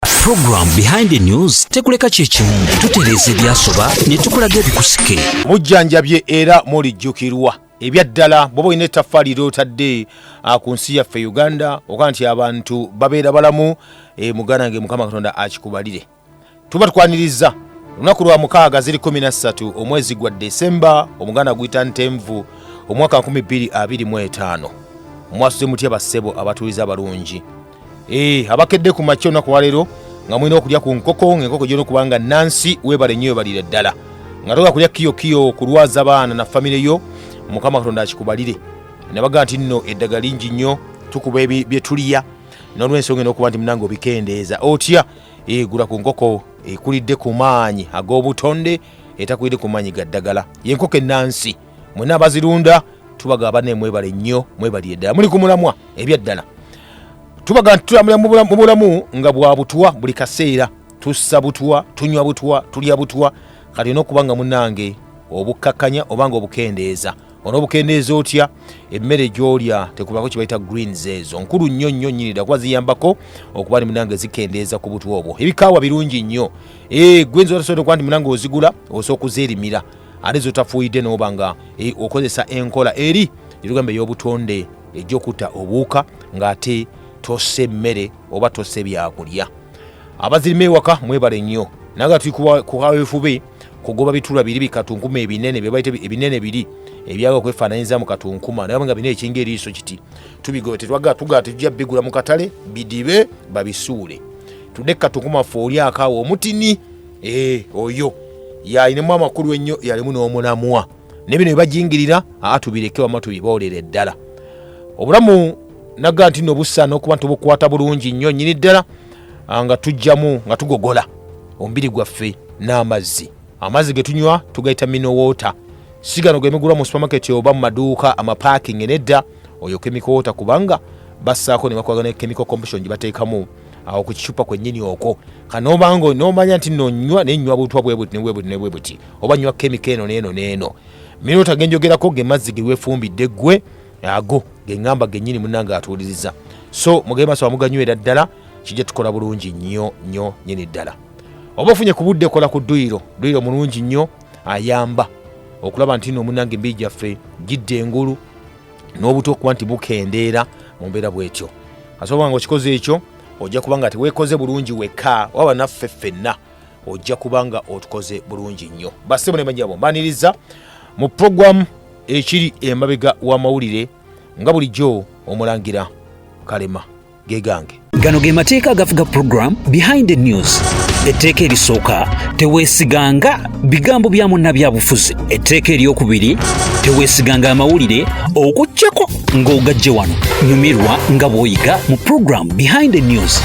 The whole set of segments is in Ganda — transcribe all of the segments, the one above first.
Program behind the news tekuleka kyekimu tutereeza ebyasoba ne tukulaga ebikusike mujjanjabye era mulijjukirwa ebyaddala bwoba olina ettaffaali lyotadde ah, ku nsi yaffe uganda oga nti abantu babeera balamu eh, muganda nge mukama katonda akikubalire tuba tukwaniriza olunaku lwa mukaaga ziri 13 omwezi gwa desemba omuganda guyita ntenvu omwaka 225 mwasuze mutya bassebo abatuuliza abalungi Eh, abakedde ku makya olunaku waleero nga mulina okulya ku nkoko ngaenkoko gyona okuba nga nansi webale nnyo webalire ddala nga toga kulya kiyokiyo kulwaza baana na famire yo mukama katonda akikubalire nabaga nti nno eddaga lingi nnyo tukuba byetuliya nolwensonga enokuba nti munange obikendeeza otya egula eh, ku nkoko ekulidde ku maanyi ag'obutonde etakulidde ku maanyi ga ddagala yenkoko ennansi mwena abazirunda tubaga abana emwebale nnyo mwebalire ddala muli ku mulamwa ebyaddala tubaga nti tutambulira mu bulamu nga bwa butwa buli kaseera tussa butwa tunywa butwa tulya butwa kati olina okuba nga munange obukkakkanya obanga obukendeeza onobukendeeza otya emmere gyolya tekubako kyebayita greens ezo nkulu nnyo nnyo nyini dda kuba ziyambako okuba ni munange zikendeeza ku butwa obwo ebikaawa birungi nnyo eh, gwenza otasobola okuba nti munange ozigula osobola okuzeerimira ate zotafuuyidde nooba nga e, okozesa enkola eri gyetugamba ey'obutonde egyokutta obuwuka ng'ate tossa emmere oba tossa ebyakulya abazirima ewaka mwebale nnyo naye nga tuli kukawefube kugoba bitula biri bikatunkuma ebinene byebaita ebinene biri ebyaga okwefaananyiza mu katunkuma naye nga bina ekinga eriiso kiti tubigoba tetwaga tugala tetujja bigula mu katale bidibe babisuule tudde kukatunkuma ffe olyakaawo omutini Eh, oyo yalinamu amakulu ennyo yalimu n'omulamwa naye bino bebajingirira aa tubireke wama tubiboolere ddala obulamu naga nti no busaana okuba nti obukwata bulungi nnyo nyini ddala ah, nga tujjamu nga tugogola omubiri gwaffe n'amazzi amazzi ge tunywa tugayita minowoota sigano gemigulwa mu supermaketi oba mu maduuka amapaakingi nedda oyo kemikowoota kubanga basaako ne bakwagana kemiko competition gye bateekamu awo ku kicupa kwennyini okwo kanoobanga nomanya nti nonywa nenywa butwa bwebuti nebwebuti nebwebuti oba nywa kemiko eno neeno neeno minota genjogerako ge mazzi gewefumbidde gwe ago geŋamba gennyini munange atuuliriza so mugee maso amuganywera ddala kijja tukola bulungi nnyo nnyo nyini ddala oba ofunye ku budde kola ku dduyiro dduyiro mulungi nnyo ayamba okulaba nti no munange embii gyaffe gidde engulu n'obuto okuba nti bukendeera mu mbeera bwetyo asobola nga okikoze ekyo ojja kuba nga tewekoze bulungi wekka waba naffe ffenna ojja kuba nga otukoze bulungi nnyo basebo nemanyabo mbaniriza mu puroguramu ekiri emabega w'amawulire nga bulijjo omulangira kalema ge gange gano ge mateeka agafuga program behind the news etteeka erisooka teweesiganga bigambo bya munnabyabufuzi etteeka eryokubiri teweesiganga amawulire okujjako ng'ogajje wano nyumirwa nga bw'oyiga mu program behind the news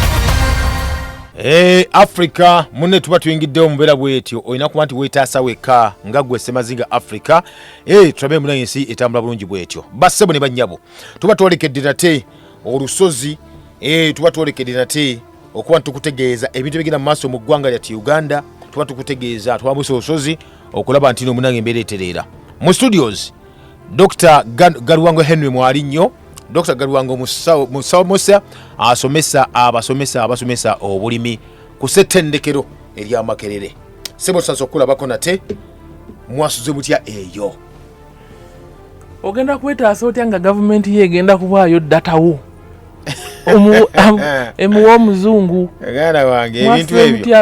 Eh, africa munne tuba tuyingiddewo mubeera bwetyo olina kuba nti weetaasa wekka nga gwe semazinga africa eh, tulabe muna ensi etambula bulungi bwetyo bassebo ne bannyabo tuba twolekedde nate olusozi eh, tuba twolekede nate okuba tukutegeeza ebintu ebigenda mu maaso mu ggwanga lyati uganda tuba tukutegeeza twambusa olusozi okulaba nti nomunange embeera etereera mu studios dr galuwango henry mwali nnyo dr galuwango musawomosa asomesa abasomesa abasomesa obulimi ku settendekero eryamakerere sebo tusansa okukulabako nate mwasuze mutya eyo ogenda kwetaasa otya nga gavumenti ye egenda kubaayo datawo emuwa omuzungu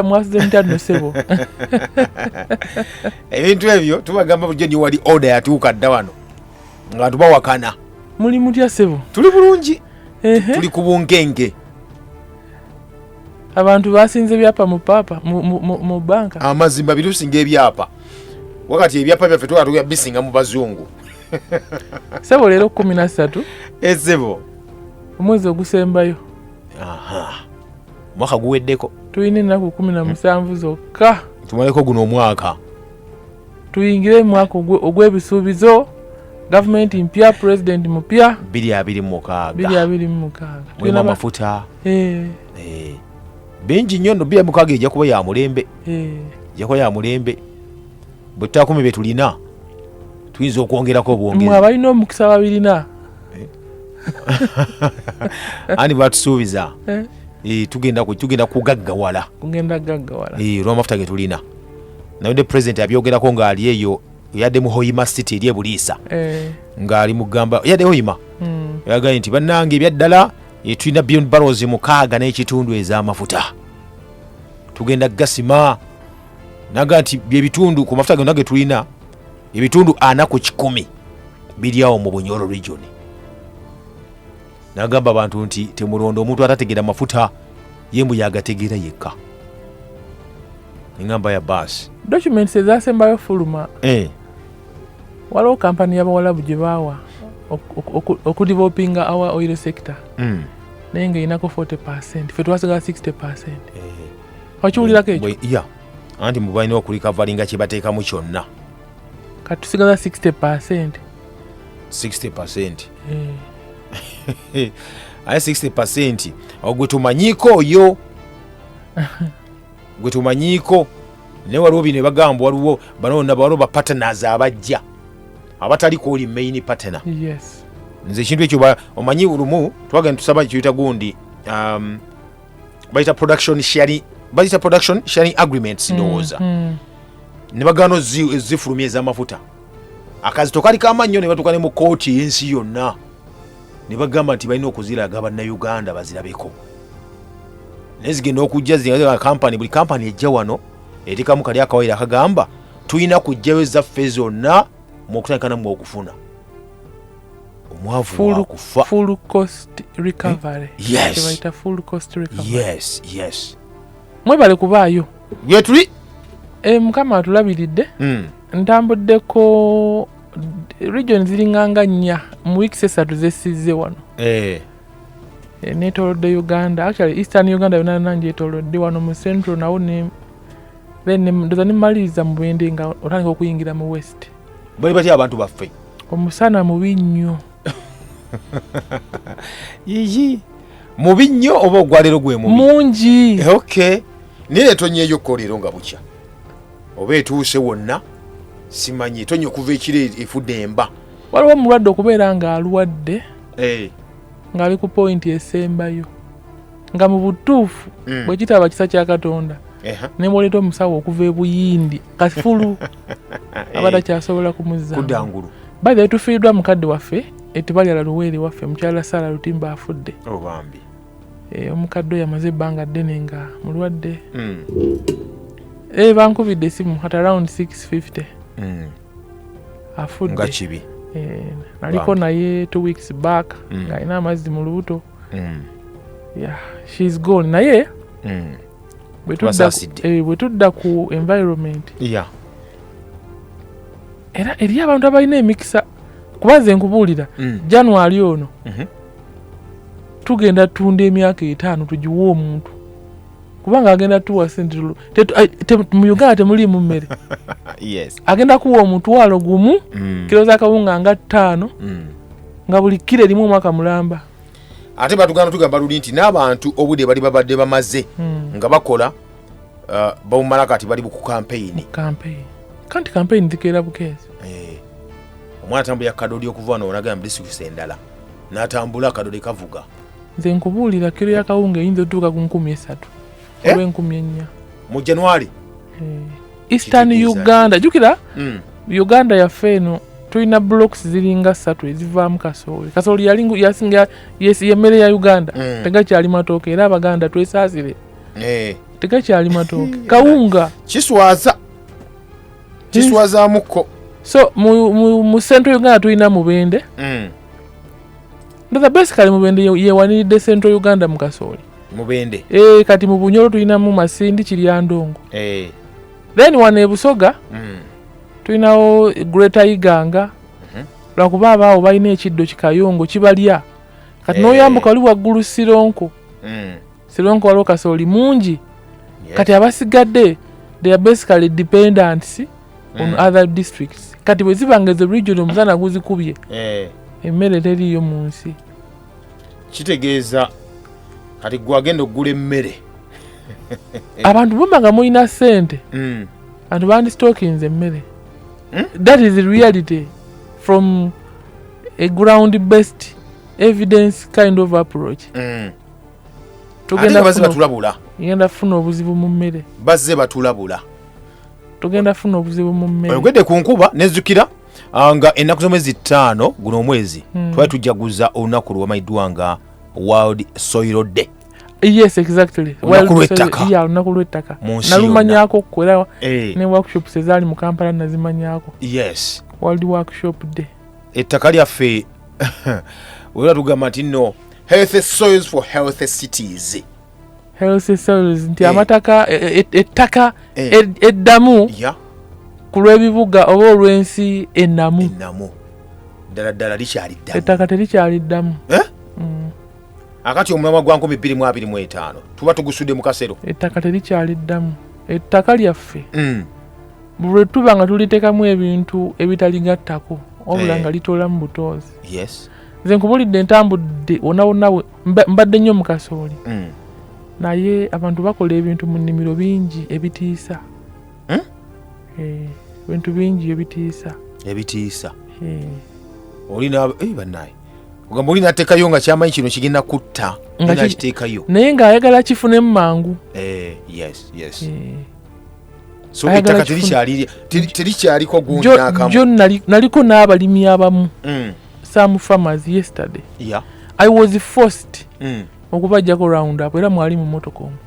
mwasimutyanosebo ebintu ebyo tubagamba bujo ni wali oda yatuuka dda wano nga tubawakana muli mutya sebo tuli bulungi tuli ku bunkenke abantu basinze ebyapa mu paapa mu banka amazima birusinga ebyapa wakati ebyapa byaffe twala tuya bisinga mu bazungu sebo leero kumi na ssatu esebo eh, omwezi ogusembayo omwaka guweddeko tulina ennaku kumi na musanvu zokka tumaleko guno omwaka tuyingire mwaka ogw'ebisuubizo gavumenti mpya president mupya biri abiri mumukaaga biri abiri mumukaaga mulimu amafuta eh. Eh. bingi nnyo no bira mukaga ejja kuba ya mulembe eh. ejja kuba ya mulembe bwe tutakumi bye tulina tuyinza okwongerako obwongezi abalina omukisa babirina eh. ani batusuubiza eh. eh, tugenda tugenda kugaggawala kugenda gaggawala olwamafuta ge tulina naye ne president abyogerako ng'ali eyo yadde mu hoima city eri ebuliisa ng'ali mugamba yadde hoima hmm. yagaye nti bannange ebyaddala e, tulina billion barrels mukaaga n'ekitundu ez'amafuta tugenda gasima naga nti byebitundu ku mafuta gonna ge tulina ebitundu ana ku kikumi biryawo mu bunyoro region nagamba abantu nti temulonda omuntu atategeera mafuta ye mbu yagategeera yekka engamba ya baasi documents ezasembayo fuluma eh. waliwo kampani y'abawalabu gye baawa okudivopinga awa oil sector mm. naye nga erinako 40 percent fe twasigala 60 percent eh. wakiwulirako ekyo anti mubalina okulikavalinga kyebateekamu kyonna katusigaza 60 percent 60 percent eh. aye 60 percent ogwe tumanyiko oyo gwe tumanyiiko naye waliwo bino ebagamba waliwo banonabawaliwo bapatenas abajja abatali kwoli main patena nze ekintu ekyo omanyi lumu twagenda tusaba kiyita gundi um, bayita production sharing bayita production sharing agreements mm, ndowooza mm. ne bagaana ezifulumya ez'amafuta akazito kali kamannyo ne batuuka ne mu kooti y'ensi yonna ne bagamba nti balina okuziraga bannayuganda bazirabeko naye zigenda okujja zikampani buli kampani ejja wano erikamu kali akawayiro akagamba tulina kujjayo ezaffe zonna mu okutandika namu okufuna omwavu wakufa mwebale kubaayo gyetuli eh, mukama atulabiridde hmm. ntambuddeko region ziringanga nnya mu weeks esatu zesizze wano eh. Eh, netolodde uganda actually eastern uganda yona yona njetolodde wano mu central nawo then ndoza nemaliriza mu bwende nga otandika okuyingira mu west bali batya abantu baffe omusana mubi nnyo yiyi mubi nnyo oba ogwalero gwe mubi mungi eh, okay naye netonyeyo ko leero nga bukya oba etuuse wonna simanyi tonya okuva ekiro efudde emba waliwo omulwadde okubeera ng'alwadde eh. ng'ali ku pointi esembayo nga mu butuufu mm. bwe kitaba kisa kya katonda ne bwoleeta omusawo okuva ebuyindi kafulu eh. aba takyasobola kumuzakudangulu bae tufiiriddwa mukadde waffe etubalyala luweere waffe mukyala saala lutimba afudde oh, Eh, omukadde oyo amaze ebbanga ddene nga mulwadde hmm. eh, bankubidde esimu at around 650 hmm. afudde kibi eh, naliko naye two weeks back hmm. ng'alina amazzi mu lubuto she's gone naye bwe tudda ku environment era eriyo abantu abalina emikisa kuba nze nkubuulira january ono mhm. tugenda tunda emyaka etaano tugiwe omuntu kubanga agenda tuwa sente mu uganda temuliimu mmere agenda kuwa omutwalo gumu mm. kiro za kawunga nga ttaano mm. nga buli kiro erimu omwaka mulamba ate batugana tugamba luli nti n'abantu obude bali babadde bamaze mm. nga bakola uh, bawumala kati bali ku kampeyini kanti kampeyini zikeera bukeezi eh. omwana tambulya kadodi okuva wano onagamba disitulikisi endala natambula akadole kavuga nze nkubuulira kiro ya kawunga eyinza otuuka ku nkumi esatu Eh? oba enkumi ennya mu january Eh, eastern Kitegeeza ki? uganda jukira Mm. uganda yaffe eno tulina blocks ziringa ssatu ezivaamu kasooli kasooli yali ngu- yasinga yes- yemmere ya uganda Mm. tegakyali matooke era abaganda twesaasire Eh, tegakyali matooke kawunga kiswaza kiswazamukko so mu, mu, mu central uganda tulina mubende mm. ndoza basically mubende ye- yewaniridde central uganda mu kasooli mubende e, kati mu bunyolo tulinamu masindi kiryandongo Eh, then wano e busoga mm. tulinawo greater iganga Mhm. lwakuba abaawo balina ekiddo kikayongo kibalya kati Eh. n'oyambuka oli waggulu sironko Mm. Silonko waliwo kasooli mungi kati abasigadde they are basically dependents on mm. other districts kati bwe ziba nga ezo region omusana guzikubye eh. emmere teriiyo mu nsi kitegeeza kati gwe agenda okugula emmere abantu bumba nga mulina sente mm. abantu bandisitokinze emmere hmm? that is reality from a ground based evidence kind of approach mm. tugenda bazze batulabula ngenda funa obuzibu mu mmere bazze batulabula tugenda funa obuzibu mu mmere oyogedde ku nkuba nezukira ah, nga ennaku z'omwezi ttaano guno omwezi hmm. twali tujjaguza olunaku lwewamanyiddwa nga world soil day yes exactly olunaku lwettaka nalumanyako kko era eh. ne workshops ezaali mu kampala nazimanyako yes world workshop day ettaka lyaffe wera tugamba nti no healthy soils for healthy cities healthy soils nti eh. amataka e, e, e, ettaka eddamu ku lw'ebibuga oba olw'ensi ennamu ddala ddala likyali ddamu ettaka terikyali ddamu eh? mm. akati omulamwa gwa nkumi bbiri mu abiri mu etaano tuba tugusudde mu kasero ettaka terikyali ddamu ettaka lyaffe mm. bwe tuba nga tuliteekamu ebintu ebitaligattako wabula eh. nga litoolamu butoozi nze nkubulidde ntambudde wonawonawe mbadde nnyo mu kasooli mm. naye abantu bakola ebintu mu nnimiro bingi ebitiisa hmm? eh, ebintu bingi ebitiisa ebitiisa eh. olina eh, banaye ogamba oli natekayo nga kyamanyi kino kigenda kutta nakiteekayo naye ngaayagala kifunemu mangu yes yes yes so Ayagala ettaka kifuna. terikyali- teri- terikyaliko Jo- jo gunyakamu nali- naliko n'abalimi abamu Mm, some farmers yesterday yeah, i was forced mm. okubajjako round up era mwali mu motoka omu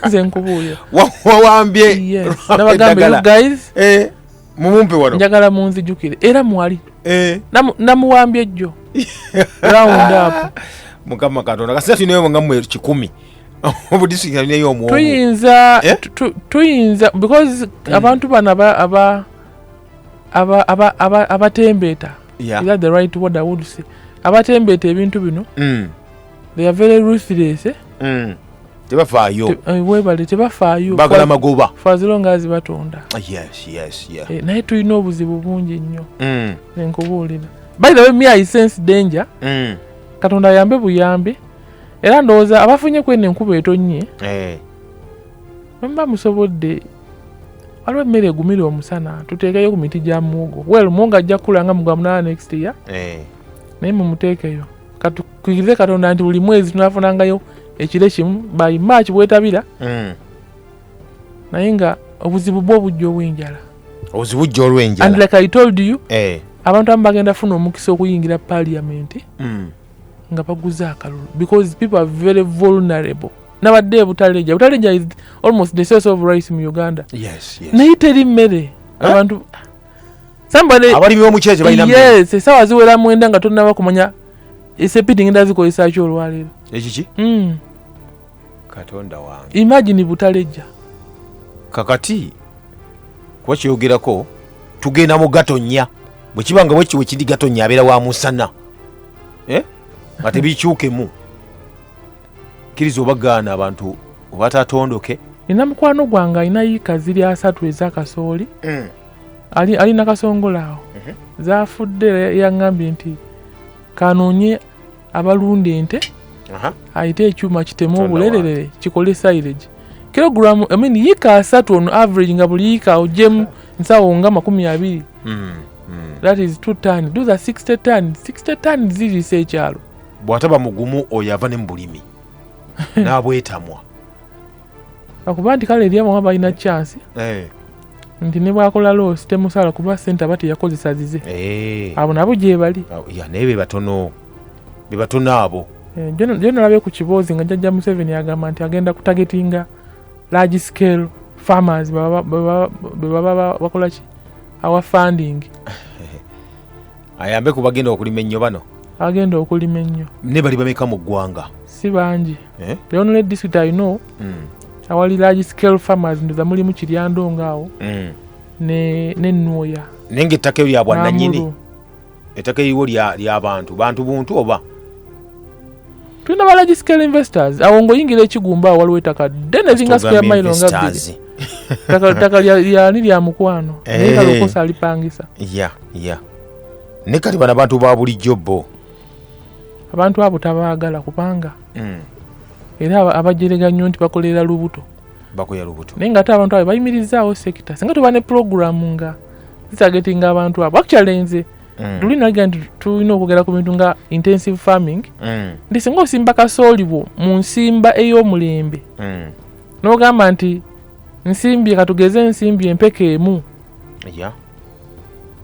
nze nkubuuya Wa- wawambye Yes. lwampa nabagamba you eddagala. guys Eh, mumumpe wano njagala munzijukire era mwali eh. namuwambye ejjo round up mukama katonda kasita tulinayo nga mwe kikumi obudisitulikiti alinayo omwomu tuyinza eh? tuyinza because mm. abantu bano aba aba aba aba aba abatembeeta yeah. is that the right word i would say abatembeeta ebintu bino mm. they are very ruthless eh? mm. tebafaayo Te, eh, webale tebafaayo bagala magoba faziro nga azibatonda ah, yes, yes, yeah. eh, naye tulina obuzibu bungi nnyo mm. nenkubuulira by the way me i sense danger mm. katonda ayambe buyambi era ndowooza abafunye kweno enkuba etonnye eh. bamba musobodde waliwo emmere egumira omusana tuteekeyo ku miti gya muwogo wel muwogo ajja kukula nga mugwa munana next year eh. naye mumuteekeyo katukirize katonda nti buli mwezi tunafunangayo ekire kimu by march bwetabira mm. naye nga obuzibu bwo obujja obwenjala obuzibu jja olwenjala and like i told you eh. abantu abamu bagenda funa omukisa okuyingira parliament mm. nga baguze akalulu because people are very vulnerable nabadde ebutaleja butaleja is almost the source of rice mu uganda yes, yes. naye teri mmere eh? abantu abalimi b'omuceere kye balina yes esaawa ziwera mwenda nga tonnaba kumanya esepiti ngenda zikozesaki olwaleero ekiki hmm. katonda wange imagini butalejja kakati kuba kyogerako tugenda mu gatonya bwe kiba nga bwekiwe kiri gatonya abeera wa musana eh? nga tebikyukemu kkiriza obagaana abantu obatatondoke nina mukwano gwange alina yiika ziri asatu ezakasooli mm. ali, ali nakasongola awo uh mhm. -huh. zafudde yangambye nti kanonye abalunda ente uh -huh. ayite ekyuma kitemu obulererere kikole silage kilogram I mean, yika asatu on average nga buli yika ojemu nsawo nga makumi abiri mm, mm. that is two ton those are 60 ton 60 ton zirisa ekyalo bwataba mugumu oyo ava ne mu bulimi n'abwetamwa akuba nti kale eri abamu balina chance eh. nti ne bwakola loosi temusala kuba sente aba teyakozesa zize eh. abo nabo gyebali naye bebatono bebatono abo eh, jonalabe ku kiboozi nga jajja museveni agamba nti agenda kutagetinga large scale farmers bebaba bakolaki awa funding ayambe ku bagenda okulima ennyo bano agenda okulima ennyo ne bali bameka mu ggwanga si bangi eh? the only district i know mm. awali large scale farmers ndoza mulimu kiryandongo awo mm. nenwoya ne naye ngaettaka eyo lyabwananyini ettaka eriwo lyabantu bantu buntu oba tulina ba large scale investors awo ngaoyingira ekigumba awo waliwo ettaka ddene zinga square mile nga bbiri Taka- ttaka lya- lyani lya mukwano Eh. naye kalokosa alipangisa ya ya ne kati bano abantu ba bulijjo bo abantu abo tabaagala kubanga Mm. era aba- abajerega nnyo nti bakolera lubuto bakoya lubuto naye nga ate abantu abo bayimirizaawo sekita singa tuba ne pulogulaamu nga zitagetinga abantu abo actually nze Mm. luli nagera nti tulina okwogera ku bintu nga intensive farming Mm. nti singa osimba kasooli bwo mu nsimba ey'omulembe Mm. n'ogamba nti nsimbye katugeze ensimbi empeke emu Yeah.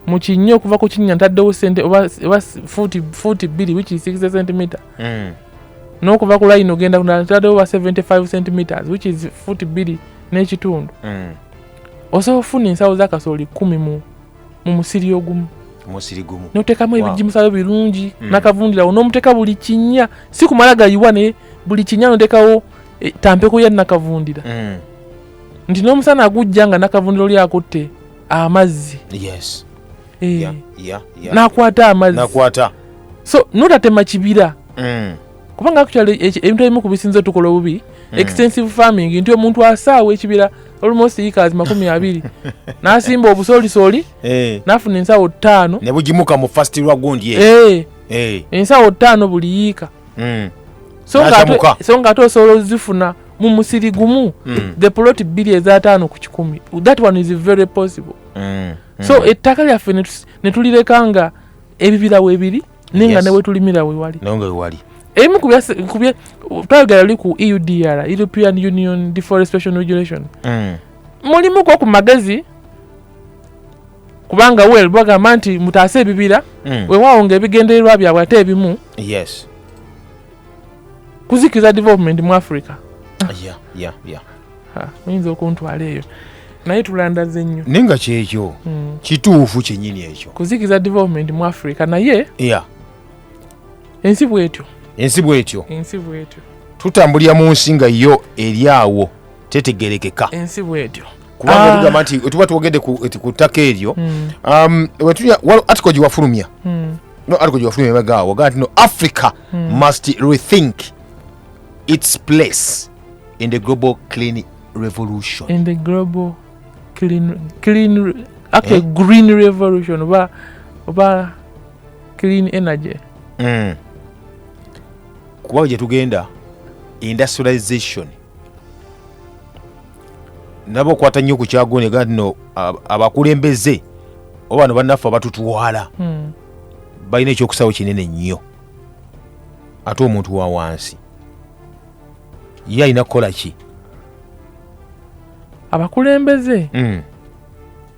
mu kinnya okuva ku kinnya ntaddewo sente oba oba fuuti fuuti bbiri which is 60 centimeter Mm. n'okuva ku layini ogenda kulala ntaddewo oba 75 centimeters which is fuuti bbiri n'ekitundu Mm. osobola okufuna ensawo z'akasooli kkumi mu mu musiri ogumu musiri gumu notekamu wow. ebijimusayo birungi mm. nakavundirawo nomuteka buli kinya si kumala gayiwa naye buli kinya notekawo e, tampeko ya nakavundira mm. nti nomusana agujja nga nakavundira oli akutte amazzi yes. e. yeah, yeah, yeah. nakwata amazzi nakwata so notatema kibira mm. kubanga actually ebintu ebimu ku bisinze tukola obubi hmm. extensive farming nti omuntu asaawa ekibira almost ikazi makumi abiri nasimba obusolisoli eh. nafuna ensawo ttaano nebugimuka mu fast lwagundi eh. eh. ensawo ttaano buli yiika hmm. so nga ate osobola ozifuna mu musiri gumu hmm. the plot bbiri ezataano ku kikumi that one is very possible so ettaka lyaffe netulireka nga ebibira webiri naye nga newetulimira wewali naye nga wewali ebimu kubye twayogera luli ku eudr european union deforestation regulation mm. mulimu ku magezi kubanga wel bagamba nti mutaase ebibira mm. wewaawo nga ebigendererwa byabwe ate ebimu yes kuzikiza development mu africa yeah, yeah, yeah. muyinza okuntwala eyo naye tulandaze nnyo naye nga kyekyo hmm. kituufu kyenyini ekyo kuzikiza development mu africa naye ya ensi bwetyo ensi bwetyo ensi bwetyo tutambulira mu nsi nga yo eri awo tetegerekeka ensi bwetyo kubanga ah. tugamba nti tuba twogedde ku ttaka eryo hmm. um, atiko giwafulumya hmm. no atiko giwafulumya emagaawo gaa nti no africa must rethink its place in the global clean revolution in the global clean clean okay eh? green revolution oba oba clean energy mm. kubawo gye tugenda industrialization nabo okwata nnyo ku kyagone ga no abakulembeze oba no bannaffe abatutwala mm. balina ekyokusaawo kinene nnyo ate omuntu wa wansi ye alina kukola ki abakulembeze mm.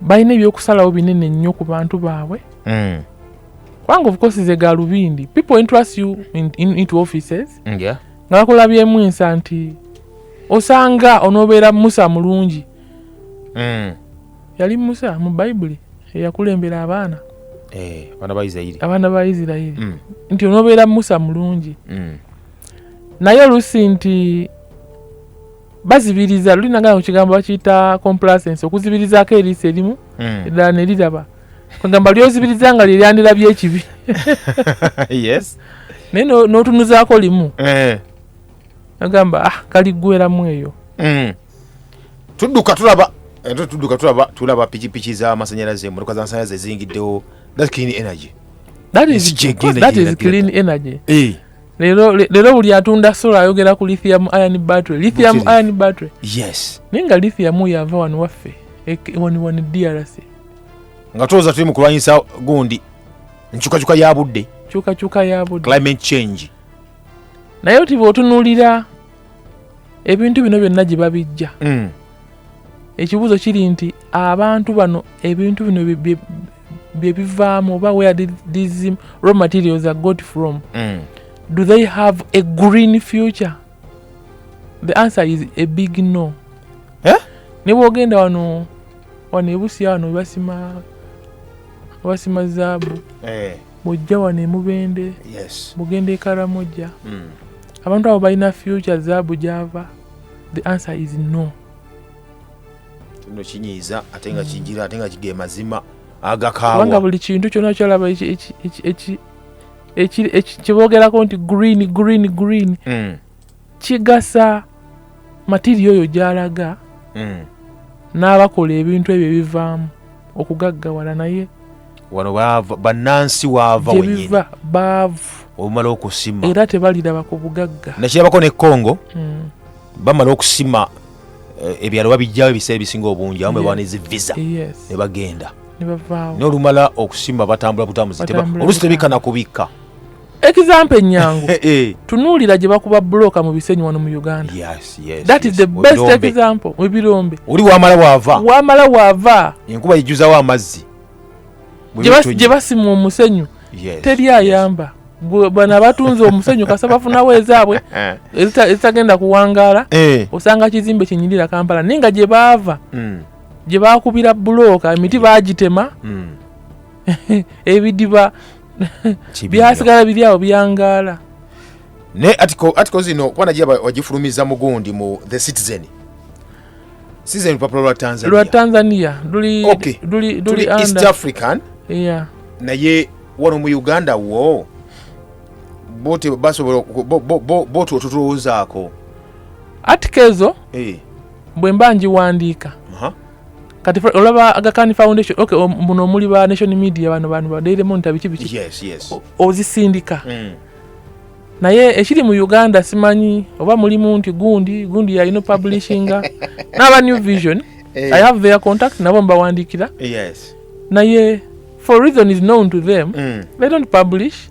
balina ebyokusalawo binene nnyo ku bantu baabwe mm. kubanga ofukosi ze galubindi people interest you in, in, into offices mm, yeah. nga bakola byemu ensa nti osanga onoobeera musa mulungi mm. yali musa mu bayibuli eyakulembera abaana eh, abaana ba isirairi mm. nti onobeera musa mulungi mm. naye olusi nti bazibiriza luli nagana kukigambo bakiyita complacence okuzibirizaako eriiso erimu mm. eddala neriraba kwegamba lyozibiriza nga lyeryandirabyo ekibi naye notunuzaako limu eh. agamba ah, kaligweramu eyo tudduka tulaba ate tudduka tulaba tulaba pikipiki z'amasanyalaze emmotoka z'amasanyalaze eziyingiddewo that clean energy that is, that is clean energy eh. lero lero buli atunda sola ayogera ku lithium iron battery lithium iron battery yes naye nga lithium oyo ava wano waffe wani wani drc nga tooza tuli mu kulwanyisa gundi nkyukakyuka ya budde kyukakyuka ya budde climate change naye oti bwotunulira ebintu bino byonna gye babijja mm. ekibuuzo kiri nti abantu bano ebintu bino byebivaamu oba where did these raw materials are got from mm. do they have a green future the answer is a big no eh? ne bwogenda wano wano ebusiya wano basima basima zaabu eh. mujja wano e Mubende, mugenda e Karamoja. Hmm. Abantu abo balina future zaabu gyava? The answer is no. Kino kinyiiza ate nga kijira ate nga kige mazima agakaawa. Kubanga buli kintu kyonna kyolaba kye boogerako nti green green green hmm. kigasa matiriyo oyo gy'alaga mm. n'abakola ebintu ebyo ebivaamu okugaggawala naye wano bannansi waava wenyini baavu omala okusima era tebaliraba ku bugagga nakirabako ne congo mm. bamala okusima eh, ebyalo babijjawo ebiseera ebisinga obungi amu bebaana ezi visa ne bagenda nolumala okusima batambula butambuzi olusi tebikana kubikka example enyangu eh, eh. tunuulira gye bakuba buloka mu bisenyi wano mu uganda yes, yes, that yes. is the best Odombe. example ebirombe oli wamala wava wamala wava enkuba yijuzawo amazzi gye basima omusenyu yes, teri ayamba yes. bana batunze omusenyu kasa bafunawo ezaabwe eh. ezitagenda kuwangaala eh. osanga kizimbe kyenyirira kampala naye nga gye baava hmm. gye bakubira bulooka emiti bagitema hmm. ebidiba byasigala biri awo byangaala naye atiko zino kuba nagira wagifulumiza mugundi mu the citizen citizen lupapula lwa tanzania lwa tanzania luli okay. luli luli east african yeah. naye wano mu uganda wo bote basobola bote otutulowozaako atikezo hey. Eh. bwe mba ngiwandiika uh -huh. kati olaba agakani foundation ok muno omuli ba nation media bano bantu ba daily monitor biki biki yes, yes. ozisindika mm. naye ekiri mu uganda simanyi oba mulimu nti gundi gundi yalina publishinga n'aba new vision hey. Eh. i have their contact nabo mbawandikira yes. naye for reason is known to them mm. they don't publish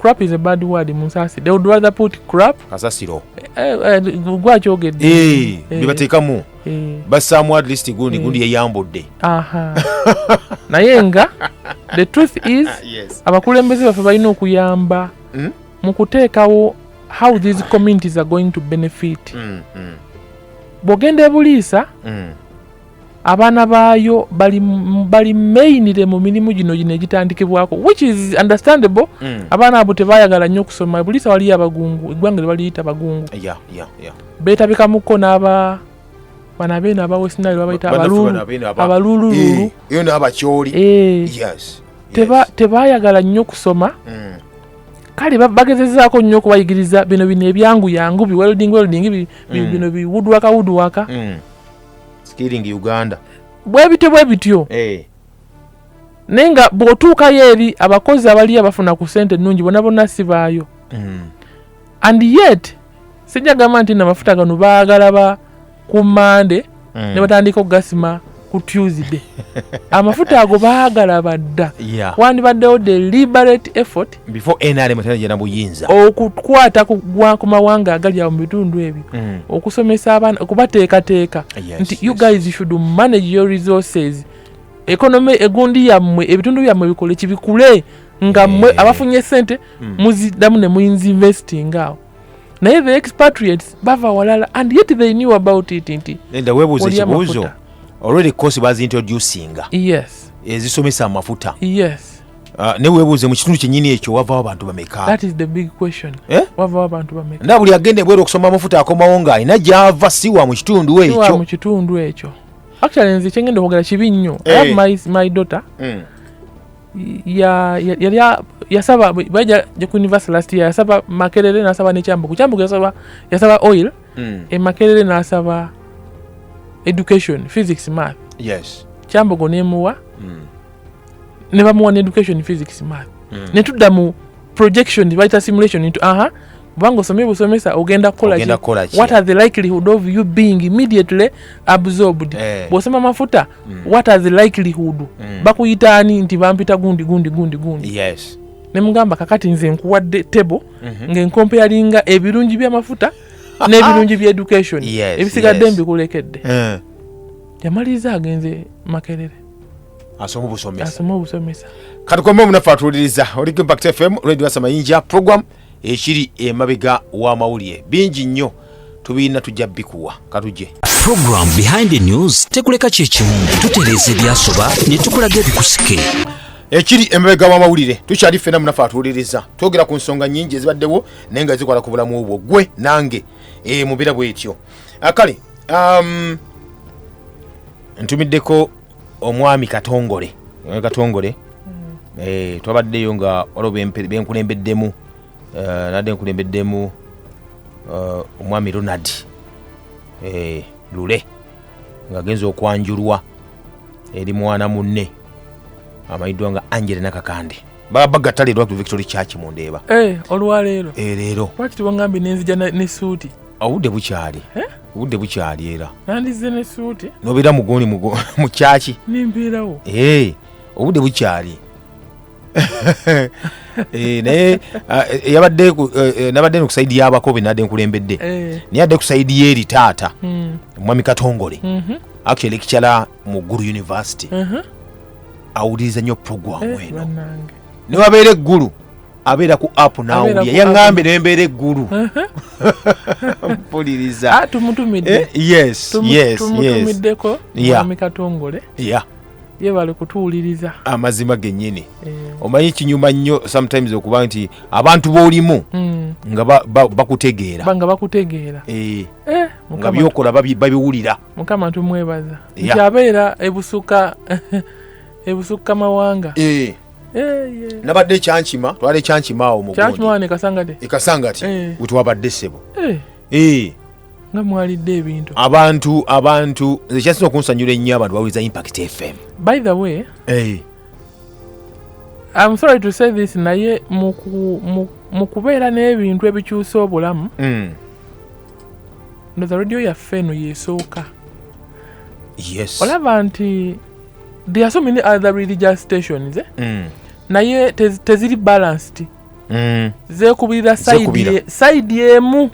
crap is a bad word munsasi they would rather put crap kasasiro eh, eh, gwakyogedde eh, bebatekamu basaamu at least gundi gundi yeyambudde naye nga the truth is abakulembeze baffe balina okuyamba hmm? mu kuteekawo how these communities are going to benefit hmm, hmm. bwogenda ebuliisa abaana baayo bali bali mainire mu mirimu gino gino egitandikibwako which is understandable mm. abaana abo tebayagala nnyo okusoma buli sa waliyo abagungu eggwanga lyebaliyita bagungu yeah, yeah, yeah. betabikamuko n'aba bana beeno aba westinali babayita abalulululu eyo n'abakyoli tebayagala nnyo okusoma mm. kale bagezezaako nnyo okubayigiriza bino bino ebyangu yangu biwelding welding bino mm. biwudwaka wudwaka mm. skilling uganda bwebityo bwebityo hey. Eh. naye nga bwotuukayo eri abakozi abaliyo abafuna ku sente ennungi bona bona sibaayo mm. and yet sijja gamba nti namafuta gano baagala ba ku mande mm. ne batandika okugasima ku tuesday amafuta ago baagala badda yeah. wandibaddewo the liberate effort before nrm tanaja nabuyinza okukwata kugwa ku mawanga agali awo mu bitundu ebyo mm. okusomesa abaana okubateekateeka nti u guys should manage your resources economy egundi yammwe ebitundu byammwe bikole kibikule nga eh. mwe abafunye sente mm. muziddamu ne muinvesting awo naye the expatriates bava walala and yet they knew about it nti enda webuuza ekibuuzo already course bazintroducinga yes ezisomesa amafuta yes Ah, ne webuuze mu kitundu kyenyini ekyo wavawo abantu bameka eh? na buli agenda ebweru okusoma amafuta akomawo nga alina gyava siwa mu kitundu ekyo mu kitundu ekyo actually nze kyengenda okwogera kibi nnyo i have eh. my, my daughter mm. yali yasaba baja ku university last year yasaba makerere nasaba nekyambuku kyambuku yasaba yasaba oil mm. e makerere nasaba education physics math yes kyambugu nemuwa mm. ne bamuwa ne education physics math mm. ne tudda mu projection bayita simulation into aha kubanga osomye busomesa ogenda kukola ki what are the likelihood of you being immediately absorbed eh. bwosoma mafuta mm. what are the likelihood mm. bakuyita ani nti bampita gundi gundi gundi gundi yes nemugamba kakati nze nkuwadde table mm -hmm. ngenkompeyalinga ebirungi byamafuta n'ebirungi bya education yes, ebisigadde yes. mbikulekedde eh. yamaliriza agenze makerere asoma obusomesa asoma obusomesa katukombe omunafu atuwuliriza oli ku impact fm radio wasa mayinja program ekiri emabega w'amawulire bingi nnyo tubirina tujja bikuwa katuje program behind the news tekuleka kyekimu tutereeza ebyasoba ne tukulaga ebikusike ekiri emabega w'amawulire tukyali ffena munafe atuwuliriza twogera ku nsonga nyingi ezibaddewo naye nga zikola ku bulamu obwo gwe nange e, mubeera bwetyo akale ah, um, ntumiddeko omwami katongole omwami katongole mm. eh, twabaddeyo nga waliwo benkulembeddemu eh, nadde nkulembeddemu eh, omwami ronald eh, lule ng'agenza okwanjulwa eri mwana munne amanyiddwa nga angele nakakande babagatalirwa ku victory church mu ndeeba eh, olwaleero eh, leero lwaki tebangambye nenzija nesuuti obudde bukyali obudde bukyali era nandizze ne suuti nobeera mugoni mu kyaki nembeerawo eh, obudde bukyali eh, naye ah, eh, yabadde nabadde no kusaidi yabako benadde nkulembedde naye adde kusaidi yeeri taata hmm. omwami katongole mhm. actually ekikyala mu guru university uh-huh. awuliriza nnyo puroguramu eno newabeera eggulu abeera ku app nawulya yaŋambe nembeera eggulu mpuliriza ah, tumutumiddeko eh, mwami katongole ye bali kutuwuliriza amazima genyini eh. omanyi kinyuma nnyo sometimes okuba nti abantu bolimu mm. nga bakutegeera nga bakutegeera eh. eh, nga byokola babiwulira mukama tumwebaza nti abeera ebusuka ebusukka mawanga nabadde ekyankima twala ekyankima awo muekasangati e wetwabadde sebo nga mwalidde ebintu abantu abantu nze kyasinza okunsanyula ennyo abantu bawuliza impact fm by the way hey. I'm sorry to say this naye mu kubeera n'ebintu ebikyusa obulamu mm. ndoza radio yaffe eno yesooka yes olaba nti there are so many other religious stations eh? mm. naye teziri balanced mm. zekubirira saidi emu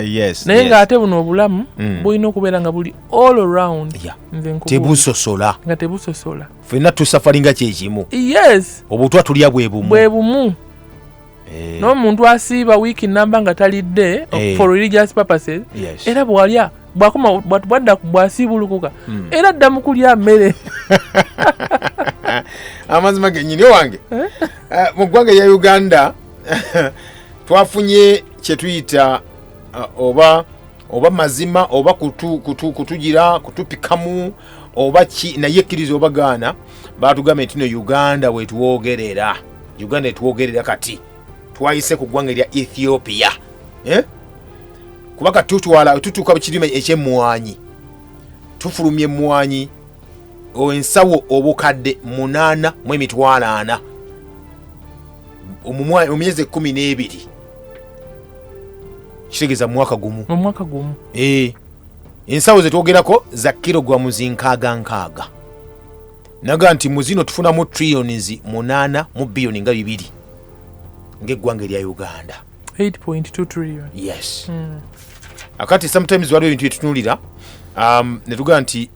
yes, naye yes. nga ate buno obulamu mm. bulina okubeera nga buli all around yeah. tebusosola nga tebusosola fenna tusafalinga kyekimu yes obutwa tulya bwebumu bwebumu Eh. n'omuntu asiiba wiiki namba nga talidde eh. for religious purposes era bwalya bwakoma bwadda bwasiibulukuka hmm. era dda mu kulya mmere amazima genyini owange eh? mu ggwanga ya uganda twafunye kyetuyita oba oba mazima oba kutugira kutupikamu oba ki naye ekkiriza obagaana batugambye nti no uganda wetwogerera uganda etwogerera kati twayise ku ggwanga erya ethiopia eh? kuba kati tutwala tutuuka kirime ekyemmwanyi tufulumya emmwanyi ensawo obukadde munaana mu emitwalo ana mu myezi ekkumi n'ebiri kitegeeza mumwaka gumu omwaka gumu eh, ensawo zetwogerako za kilogramu zinkaaga nkaaga naga nti mu zino tufunamu trillions munaana mu biyoni nga bibiri ngaeggwanga erya uganda 8.2 trillion yes mm. akati sometimes waliwo ebintu byetutunulira um, netugaa nti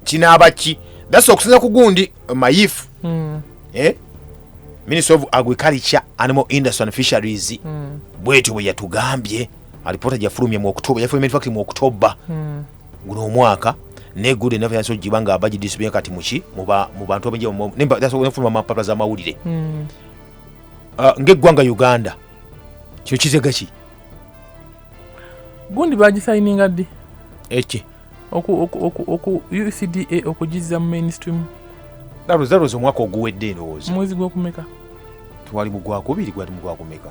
kinaaba ki thats okusinza ku gundi mayifu mm. eh? minister of agriculture animal industry and fisheries mm. bwetyo bwe yatugambye alipoota gyafulumye mu oktoba yafulumye mu oktoba mm. guno omwaka ne good enough yanso jiba nga abaji disipline kati muki muba mu bantu abenje mu nemba that's why nfuma mapapa za mawulire mm. uh, ah, nge gwanga Uganda kyo kizega ki gundi baji signing adi eche oku oku oku oku UCDA okujiza mu mainstream that was that was omwaka oguwedde ndowooza mwezi gwokumeka twali mu gwakubiri gwali mu gwakumeka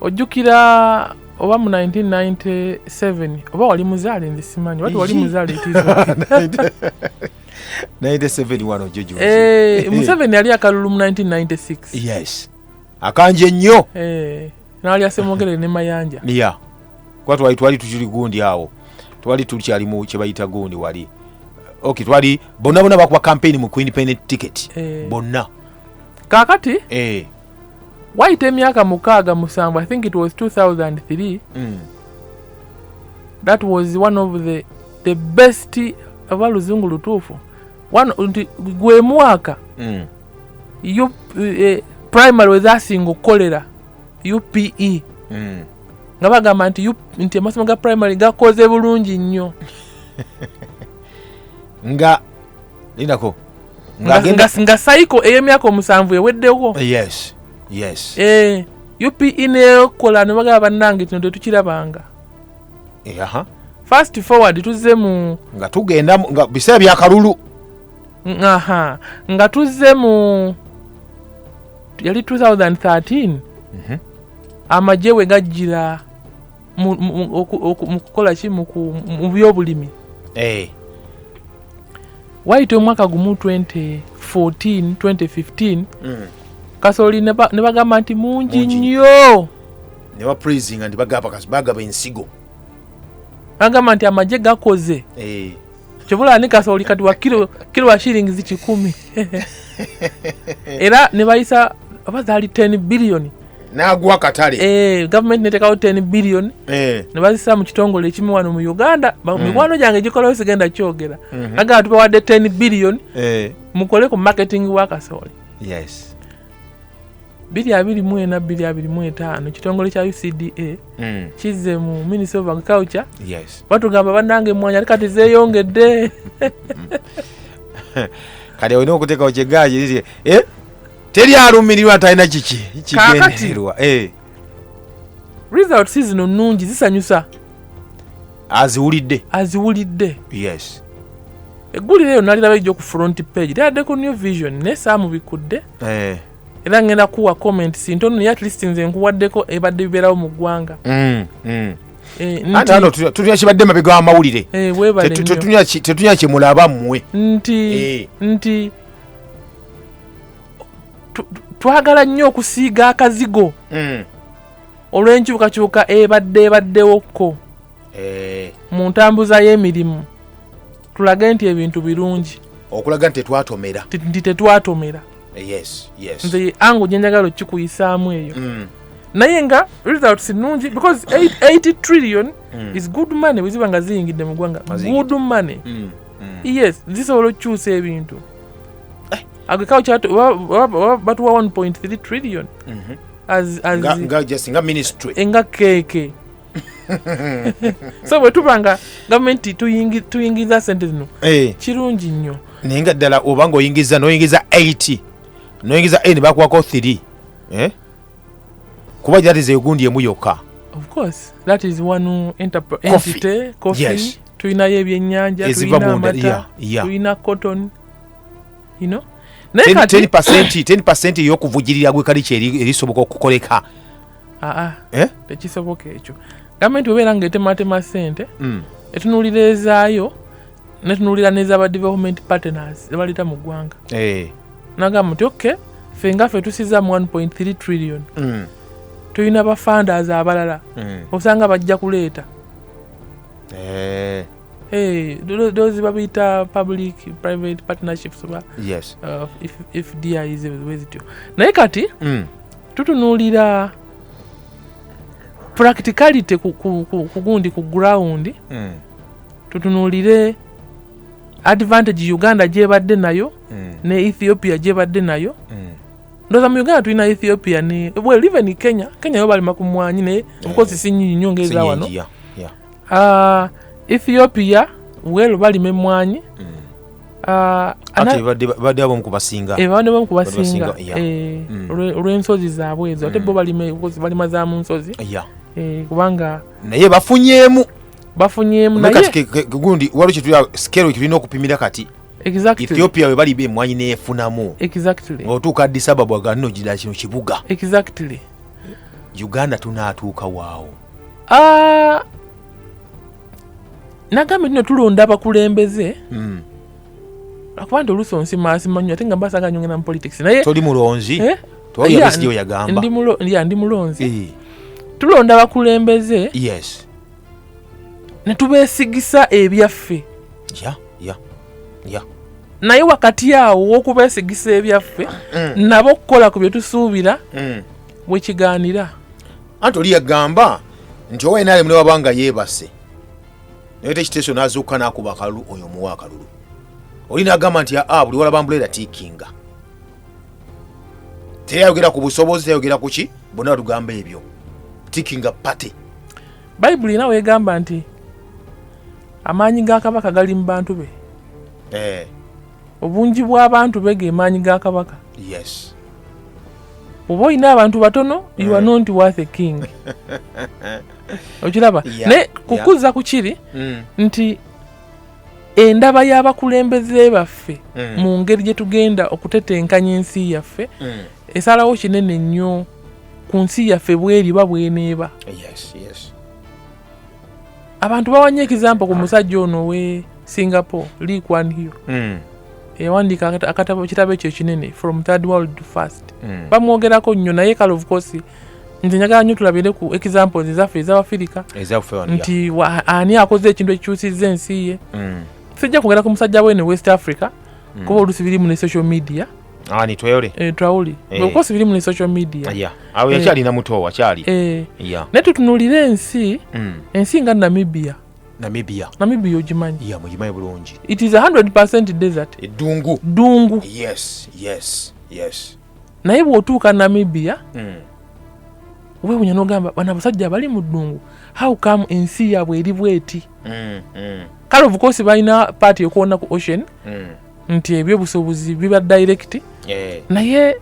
ojjukira oba mu 1997 oba wali muzaale nze simanyi wati wali muzaale eh, museveni yali akalulu mu 1996 akanja ennyo eh, naali asemogere ne mayanja ya kuba twali twali tukiri gundi awo twali tukyalimu kyebayita gundi wali ok twali bonna bonna bakuba kampeyini mu quindependent ticket eh. bonna kakati wayita emyaka mukaaga musanvu i think it was 2003 mm. that was one of the, the best oba luzungu lutuufu nti gwe mwaka mm. u, uh, primary wezasinga okukolera upe mm. nga bagamba nti, nti amasomo ga primary gakoze bulungi nnyo nga lindako nga sayiko ey'emyaka omusanvu eweddewo yes yes eh, upe nekola nebagaba bannange kino tetukirabanga eh, aha fast forward tuzze mu nga tugenda nga biseera byakalulu aha nga tuzze mu yali 2013 mhm. amagye we gajjira mu kukola ki mu byobulimi eh. waayita omwaka gumu 2014 2015 mm. kasooli ne bagamba nti mungi nnyo ne bapraisinga nti bagaba ensigo bagamba nti amagye gakoze eh. kibula ani kasooli kati wa kilo kilo wa shillings kikumi era ne bayisa oba zaali 10 billion nagwa katale eh government netekawo 10 billion eh ne bazisa mu kitongole ekimu wano mu Uganda ba- Mm. mikwano gyange gikolawo sigenda kyogera Mhm. aga tubawadde 10 billion eh mukole ku marketing wa kasooli yes biri abiri mu ena biri abiri mu etaano ekitongole kya ucda mm. kizze mu ministry of agriculture yes. batugamba banange emwanyi ate kati zeyongedde kati olina okuteekawo kyegaaki eh? teri alumirirwa talina kiki kigendererwa eh. results zino nnungi zisanyusa aziwulidde aziwulidde yes eggulire eyo naliraba ejjo ku front page lyaddeko new vision naye saamubikudde eh. era ngenda kuwa comment sintono naye atleast nze nkuwaddeko ebadde bibeerawo mu ggwanga mm, mm. Eh, antano tutunya kibadde mabe ga mawulire eh, tetunya kyemulaba mmwe nti eh. nti twagala nnyo okusiiga akazigo mm. olw'enkyukakyuka ebadde ebaddewo kko eh. mu ntambuza y'emirimu tulage nti ebintu birungi okulaga nti tetwatomera nti tetwatomera eh, nze ango gyenjagala okukikuyisaamu eyo mm. naye nga results nungi because 80 trillion mm. is good money weziba nga ziyingidde mu ggwanga good money yes zisobola okukyusa ebintu eh. agriculture batuwa 1.3 trillion mhm. nga ministry eh, nga keke so bwe tuba nga gavumenti tuyingiza sente zino eh. kirungi nnyo naye nga ddala oba nga oyingiza noyingiza 8 noyingiza 8 bakuwako 3 kuba that is egundi emu yokka tulinayo ebyenyanja tulina amata tulina cotton you know? 10 eyokuvujirira gwekaliky erisoboka okukoleka aa ah, ah. eh? tekisoboka ekyo gavumenti webeera nga etematema sente mm. etunulira ezaayo netunulira nezaba development partners zebaleta mu ggwanga hey. Eh. nagamba nti ok fe nga fe tusiza mu 1.3 trillion mm. tulina bafunders abalala mm. osanga bajja kuleeta hey. Eh. Hey, those babita public private partnerships ba yes. uh, if, if dia is wezityo naye kati mm. tutunulira practicality kugundi ku, ku, ku, ku ground mm. tutunuulire advantage uganda gyebadde nayo mm. ne ethiopia gyebadde nayo mm. ndoza mu uganda tulina ethiopia ne well even e kenya kenya yo balima ku mwanyi naye eh, obukozi sinyinyi nyo ngaeza wano ah, ethiopia well balima emwanyi mm. ah, badde abamu kubasinga eh, badde abamu kubasinga eh, olwensozi zaabwe ezo ate bo balima za mu nsozi kubanga naye bafunyemu bafunyemu naye gundi waliwo kyetuli scale kyetulina okupimira kati exactly. ethiopia we bali bemwanyi neyefunamu exactly. otuuka addis ababa ga nno gira kino kibuga exactly. uganda tunaatuuka waawo uh, nagambye tino tulonda abakulembeze mm. akuba nti oluusi onsimaasimanyo ate nga mbasaga nyongera mu politics naye toli mulonzi eh? ndi mulonzi eh. tulonda abakulembeze yes ne tubeesigisa ebyaffe ya ya ya naye wakati awo w'okubeesigisa ebyaffe mm. nabo okukola ku bye tusuubira mm. we kigaanira anti oli yagamba nti owa nrm ne waba nga yeebase naye tekiteeso n'azuuka n'akuba akalulu oyo omuwa akalulu oli n'agamba nti aa buli walaba mbuleera tiikinga teyayogera ku busobozi teyayogera ku ki bonna batugamba ebyo tikinga party bayibuli era wegamba nti amaanyi ga kabaka gali mu bantu be eh. obungi bw'abantu be ge maanyi ga kabaka yes oba olina abantu batono you are eh. not worth a king okiraba naye kukuza ku kiri mm. nti endaba y'abakulembeze baffe mm. mu ngeri gye tugenda okutetenkanya ensi yaffe mm. esalawo kinene nnyo ku nsi yaffe bweriba bweneeba abantu bawanye ekizampo ku musajja ono we singapore lee kwan hiyo mm. eyawandiika ekitabo ekyo ekinene from third world to first mm. bamwogerako nnyo naye kale of course nze njagala nyo tulabire ku examples ezaffe ezabafirika nti ani akoze ekintu ekikyusizza ensi ye mm. sijja kwogera ku musajja wene west africa mm. kuba olusi birimu ne social media ah, nitweyole eh, twawuli eh. okosi birimu ne social media eh, awo yakyalina muto wakyali naye tutunulire ensi mm. ensi nga namibia namibia namibia ogimanyi ya mugimanyi bulungi it is 100 desert eddungu ddungu yes yes yes naye bwotuuka namibia mm. wewunya nogamba bana abasajja bali mu ddungu how come ensi yabwe eri bweti mm, mm. kale obukosi balina paati yokuwona ku ocean mm. nti ebyobusobozi biba direct yeah. naye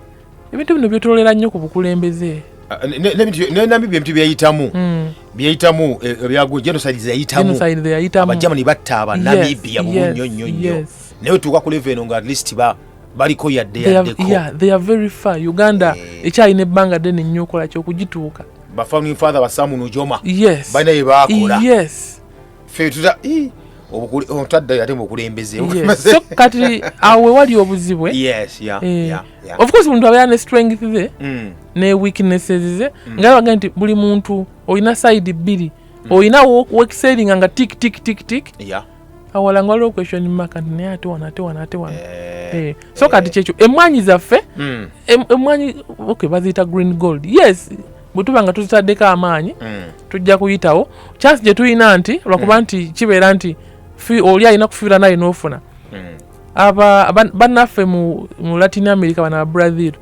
ebintu bino byetololera nnyo ku bukulembeze ah, nenamibia ebintu byeyitamu mm. byeyitamu eh, ebyagu genocide zeyitamuabajamani batta abanamibia yes, yes, yes. naye otuuka kuleva eno nga at least ba baliko yadde yaddeko yeah, they are very far uganda eh. ekyalina ebbanga ddene nnyo okola kyokugituuka bafamily father basamu nujoma yes balina bye bakola yes fe tuta otadda ate mukulembeze so kati awe wali obuzibu eh? yes, yeah, eh. yeah, yeah. of course muntu abeera ne strength ze mm. ne weaknesses ze mm. nga baga nti buli muntu olina side bbiri mm. olina wekiselinga nga tik tik tik tik yeah. awala nga waliwo question mark nti naye ate wano ate wano ate wano eh, eh, so kati eh. kyekyo emmwanyi zaffe hmm. emmwanyi ok baziyita green gold yes bwe tuba nga tuzitaddeko amaanyi hmm. tujja kuyitawo chance gye tulina nti lwakuba hmm. nti kibeera nti oli alina kufiira naye n'ofuna aba bannaffe mu latin america bana brazil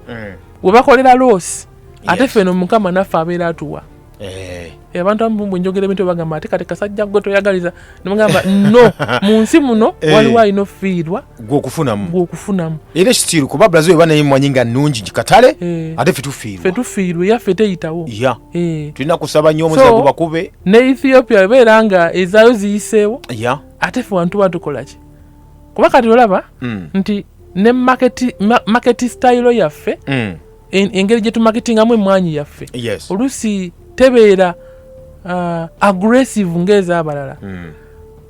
webakolera loosi ate ffe no mukama naffe abeera atuwa Eh. Eh, abantu abamu bwe njogera ebintu bagamba ati kati kasajja gwe toyagaliza nemugamba no mu nsi muno eh. waliwo alina ofiirwa gwokufunamu gwokufunamu era ekitiiru kuba brazil eba naye mwanyi nga nungi katale ate fe tufiirwa fe tufiirwa era fe teyitawo ya tulina kusaba nnyo omuze gubakube ne ethiopia ebeera nga ezaayo ziyiseewo ya ate fe wantu batukolaki kuba kati olaba hmm. nti ne maketi stayilo yaffe hmm. engeri gye tumaketingamu emmwanyi yaffe oluusi tebeera uh, aggressive ng'ez'abalala hmm.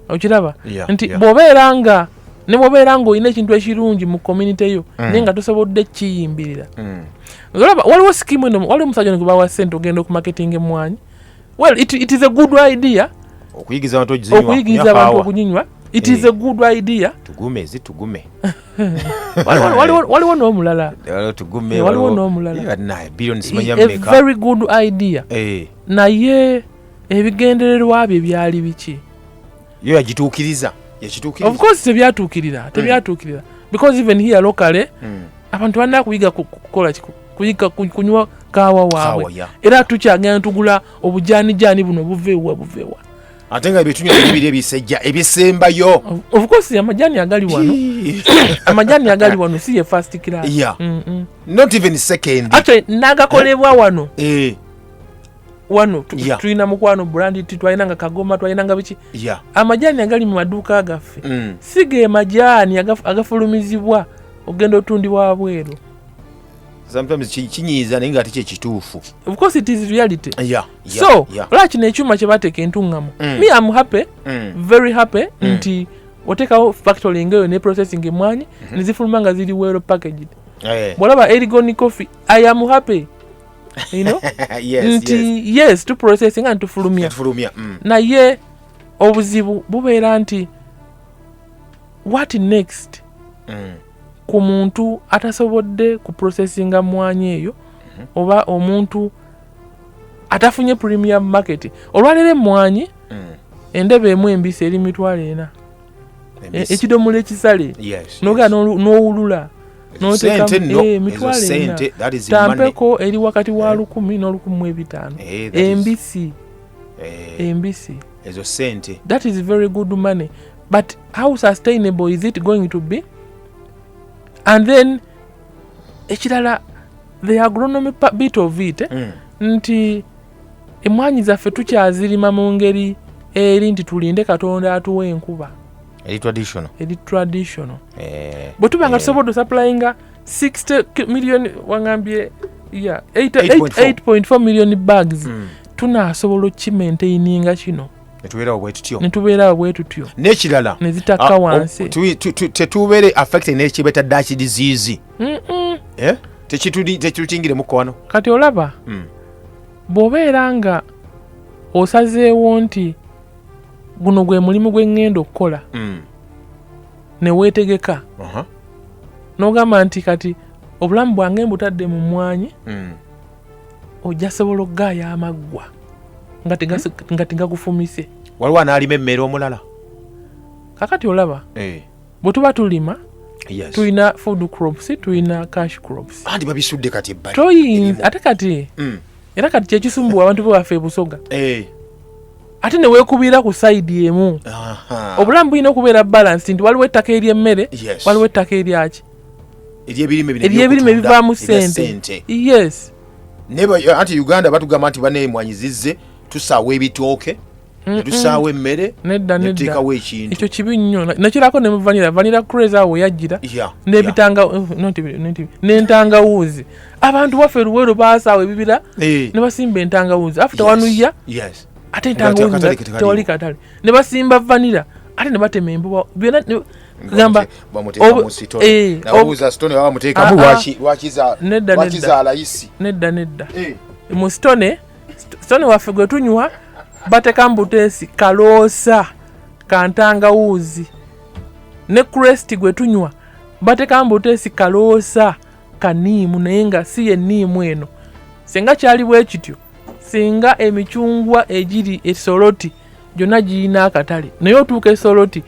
okiraba nti bw'obeera nga ne bwobeera ngaolina ekintu ekirungi mu community yo mm. naye nga tosobodde kiyimbirira mm. olaba waliwo sikimu eno waliwo omusajja nikubawa sente ogenda okumaketinga emwanyi well it, it is a good idea okuyigiza abantu okuyigiza abantu okuginywa it is a good idea tugume zitugume waliwo n'omulala waliwo n'omulalavery good idea eh. naye ebigendererwa bye byali biki yo yagituukiriza of course tebyatuukirira hmm. tebyatuukirira because even here locally hmm. abantu balina kuyiga kukola kuyiga kunywa kaawa waabwe era tukyagenda tugula obujaanijaani buno buveewa buveewa ate nga ebitunya bibiri ebisejja ebisembayo of course amajani agali wano amajani agali wano si ye first class yeah. mm -mm. not even second actually nagakolebwa eh? wano eh wano yeah. tulina mukwano brand ti twalina nga kagoma twalina nga biki yeah. amajani agali mu maduuka gaffe mm. siga emajani agafulumizibwa agaf, ogenda otundibwa wabweru sometimes kinyiiza naye nga ate kyekituufu because it is reality yeah, yeah, so yeah. olaba kino ekyuma kyebateeka entuŋŋamu mm. me am happy mm. very happy mm. nti otekawo factory ngeyo ne processing emwanyi mm -hmm. nezifuluma nga ziri well packaged hey. Eh. bwolaba erigoni coffee i am happy you know yes, nti yes, yes to processing and tufulumya mm. naye obuzibu bubeera nti what next mm. ku muntu atasobodde ku processinga mmwanyi eyo mhm. oba omuntu atafunye premium market olwaleero emmwanyi mm. endebe emu embisi eri mitwalo ena e, ekidomola ekisale noga nowulula notekamitampeko eh, eri wakati wa eh. lukumi nolukumi mwebitaano eh, embisi embisi ezo sente that is very good money but how sustainable is it going to be and then ekirala the agronomy bit of it eh? mm. nti emwanyi zaffe tukyazirima mu ngeri eri nti tulinde katonda atuwa enkuba eri traditional eri traditional eh, bwe tuba nga eh. tusobodde osaplayinga 60 million wangambye yeah 8.4 million bags mm. tunasobola okimaintaininga kino netubeerawo bwetutyo netubeerawo bwetutyo nekirala nezitakka ah, wansi oh, tetubeere affected nekibeta daki diziizi eh? tekitutingiremuko wano kati olaba mm. bwobeera nga osazeewo nti guno gwe mulimu gwe ŋŋenda okukola mm. neweetegeka uh -huh. nogamba nti kati obulamu bwange mbutadde mu mwanyi mm. ojja sobola okugaaya amaggwa nga tegagufumise waliwo anaalima emmere omulala kakati olaba eh. bwe tuba tulima tulina food crops tulina cash crops andi babisudde kati ebbali ate kati mm. era kati kyekisumbuwa abantu bewaffe ebusoga eh. ate newekubira ku saidi emu obulamu bulina okubeera balansi nti waliwo ettaka eryemmere waliwo ettaka eryaki eryebirime bivaamu sente yes anti uganda batugamba nti banemwanyi zizze tusaawa ebitooke netusaawo emmere netuteekawo ekintu ekyo kibi nnyo nakirako ne muvanira vanira craze awo weyajjira n'entangawuuzi abantu baffe luweero baasaawo ebibira eh. ne basimba entangawuuzi after one year ate entangawuuzi tewali katale ne basimba vanira ate ne batema embuba byona gamba eh, ah, ah. nedda nedda mu sitone sitoni waffe gwe tunywa batekamu buteesi kaloosa kantangawuuzi ne kresti gwe tunywa batekamu buteesi kaloosa kaniimu naye nga si yeniimu eno singa kyali bwe kityo singa emicungwa egiri esoloti gyonna girina akatale naye otuuka esoloti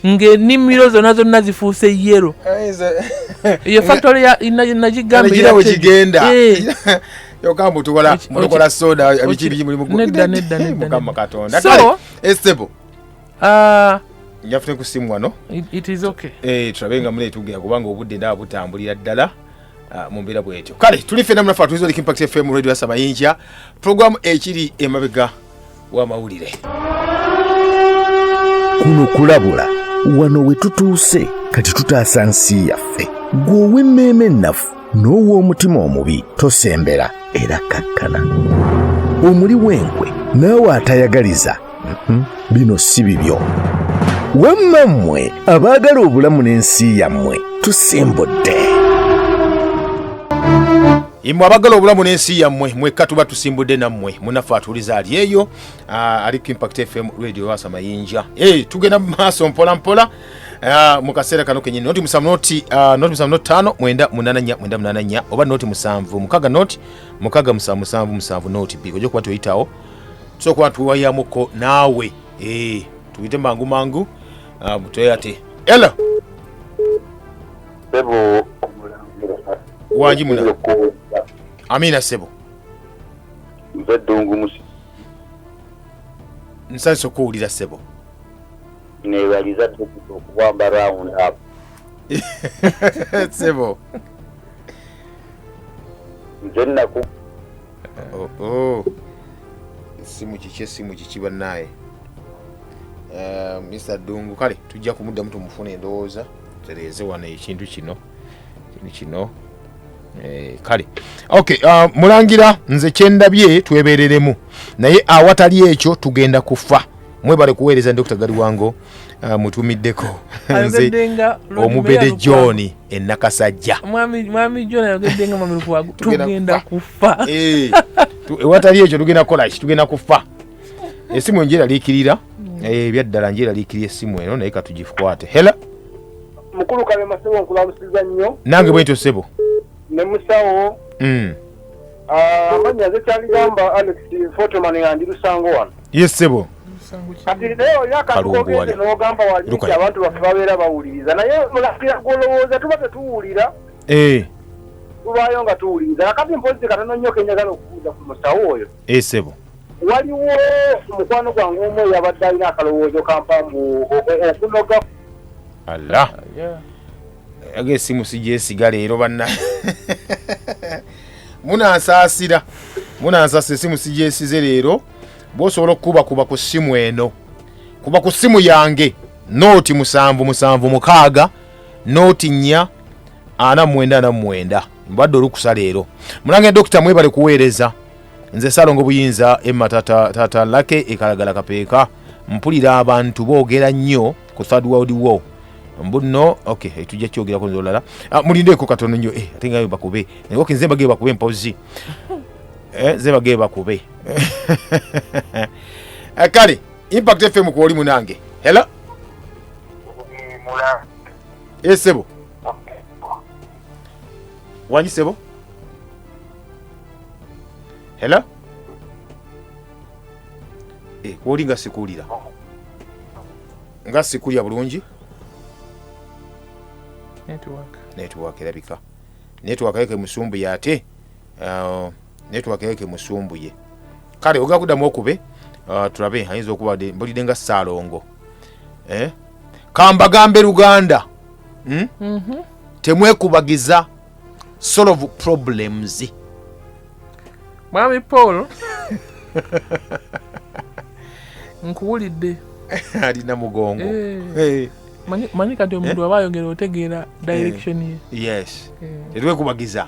ng'enimiro zonna zonna zifuuse yero eyo factory nagigambawegigenda eh. yoka mbu tukola mutukola soda biki biki muli mukudda nedda nedda mukama katonda so estebo ah njafute kusimu wano it is okay eh turabe nga mune tugera kubanga obudde nda butambulira ddala ah, mu mbeera bwetyo kale tuli fena munafa tuzo likimpact fm radio ya sabayinja program ekiri emabega w'amawulire kuno kulabula wano we tutuuse kati tutaasa nsi yaffe gwe ow'emmeeme ennafu n'ow'omutima omubi tosembera era kakkana omuli w'enkwe naawe atayagaliza mhm, bino si bibyo wamma mmwe abaagala obulamu n'ensi yammwe tusimbudde imwe abagala obulamu n'ensi yammwe mwekka tuba tusimbudde nammwe munaffe atuuliza ali eyo ah, ali ku impact fm radio wasa mayinja eh, tugenda mu maaso mpola mpola ah, mu kaseera kano kenyini noti musanvu noti ah, noti musanvu noti ttaano mwenda munaana nnya mwenda munaana nnya oba noti musanvu mukaga noti mukaga musanvu musanvu musanvu noti bi ojja kuba toyitawo tusobola kuba tuwayamuko naawe eh, tuyite mangu mangu mutweyate ela wangi muna amina sebo nze ddungu musi nsanyusa okuwulira sebo nebaliza dokita okuwamba round up sebo nze naku oh, oh. esimu kiki esimu kiki banaye eh, mr dungu kale tujja kumuddamu tumufuna endowooza tereeze wano ekintu kino kino eh, kale ok uh, mulangira nze kyendabye twebereremu naye awatali ekyo tugenda kufa mwebale kuweereza dr galiwango uh, mutumiddeko nze omubede john enakasajja ewatali ekyo tugenda kukolaki tugenda kufa esimu enjeraliikirira mm. eh, ebyaddala njeraliikirira esimu eno naye katugikwate hela mukulu kalema sebo nkulamusiza nnyo nange bwentyo sebo ne musawo mm. ah, amanya ze kyagamba alex fotoman yandi lusango wano ye sebo kati naye oli akatukogenze nogamba walinti abantu baffe babeera bawuliriza naye mulakira gwolowooza tuba tetuwulira eh. tubayo nga tuwuliriza kakati mpozi katono nnyo kenyagala okubuuza ku musawo oyo Eh, sebo waliwo mukwano gwange omu eyabadde alina akalowoozo kampa mbu okunoga alla aga esimu sigyesiga leero banna munansaasira munansaasira esimu sigyesize leero bwosobola okukubakuba ku ssimu eno kuba ku ssimu yange nooti musanvu musanvu mukaaga nooti nnya ana mumwenda ana mumwenda mbadde olukusa leero mulange dokita mwebale kuweereza nze salongo buyinza emma tata lake ekalagala kapeeka mpulira abantu boogera nnyo ku third world war mbuno okay eh, tujja kyogerako nze olala ah, mulindeeko katono nnyo eh, ate ngayo bakube naye oke nze bagee bakube mpozi eh, nze bagee bakube eh, kale impact fm kwoli munange hela esebo eh, Wanyi sebo? Hello? Eh, kwoli nga sikulira. Nga sikulira bulungi? Network. Network erabika. Network yake musumbu yate. Uh, naye tubageyeke musumbuye kale ogenda kuddamu okube ah, tulabe ayinza okuba de- mbulidde nga saalongo eh? kambagambe luganda hmm? temwekubagiza solve problems mwami paul nkuwulidde alina mugongo Eh. Eh, Manyi- manyi kati omuntu aba ayogera otegeera direction ye yes Eh. tetwekubagiza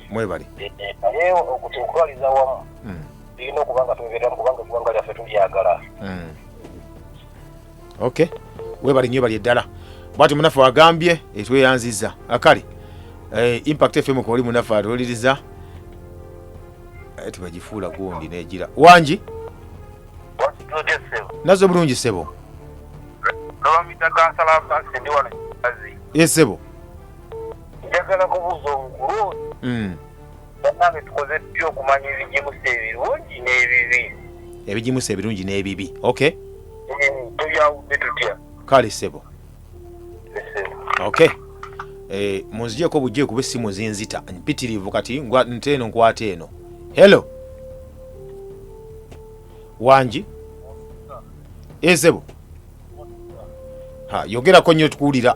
mwebale eh, eh, naye okutwaliza wamu hmm. tulina okuba nga twebereramu kubanga eggwanga lyaffe tulyagala hmm. ok webale nyo bali eddala bwati munaffe wagambye etweyanziza eh, akale impact fm koli munaffe atuliriza tibagifuula gundi negira wangi nazo bulungi sebo esebo njagala kubuuza omukulu oyo mm. banange tukoze tutya okumanya ebigimusa ebirungi n'ebibi ebigimusa ebirungi n'ebibi ok eh, tuyawudde tutya kale sebo ok eh, munzigyeko bujje kuba essimu zinzita mpitirivu kati nte eno nkwata eno hello wangi ezebo eh, yogerako nnyo tukuwulira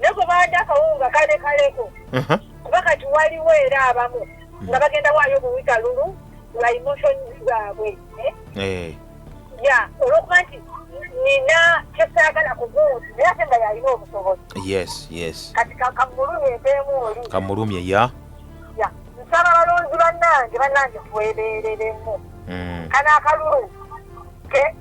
nako baadde akawungu nga kale kaleko kuba kati waliwo era abamu nga bagenda waayo obuwika lulu lwa emotions zaabwe eh? Eh. ya olwokuba nti nina kyesaagala kugundi naye ate nga yalina obusobozi yes yes kati kamulumye empeemu oli kamulumye ya ya nsaba balonzi bannange bannange twebeereremu mm. kana akalulu ke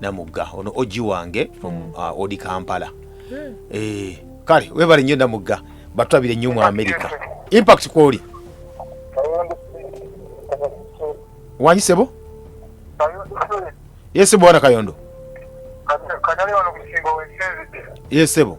namugga ono ogi wange from mm. uh, odi kampala hmm. eh, kale webale nnyo namugga batwabire nnyo mu amerika impact kwoli wanyisebo yesebo wana kayondo yesebo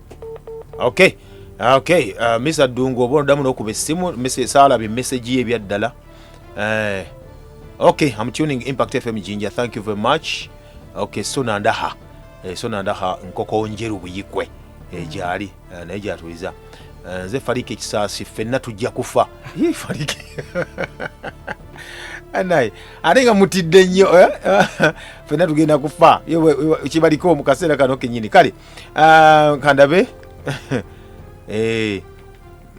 okay ah, okay uh, ah, misa dungu oba odamu nokuba essimu salaba emesegi ye ebyaddala eh, okay am tuning impact fm jinja thank you very much okay so nandaha eh, so nandaha nkoko njeru buyikwe eh, gyali eh, naye gyatuliza eh, nze fariki ekisaasi ffenna tujja kufa fariki naye ate nga mutidde nnyo eh? fena tugenda kufa kibaliko mu kaseera kano kenyini kale Ah, kandabe Eh,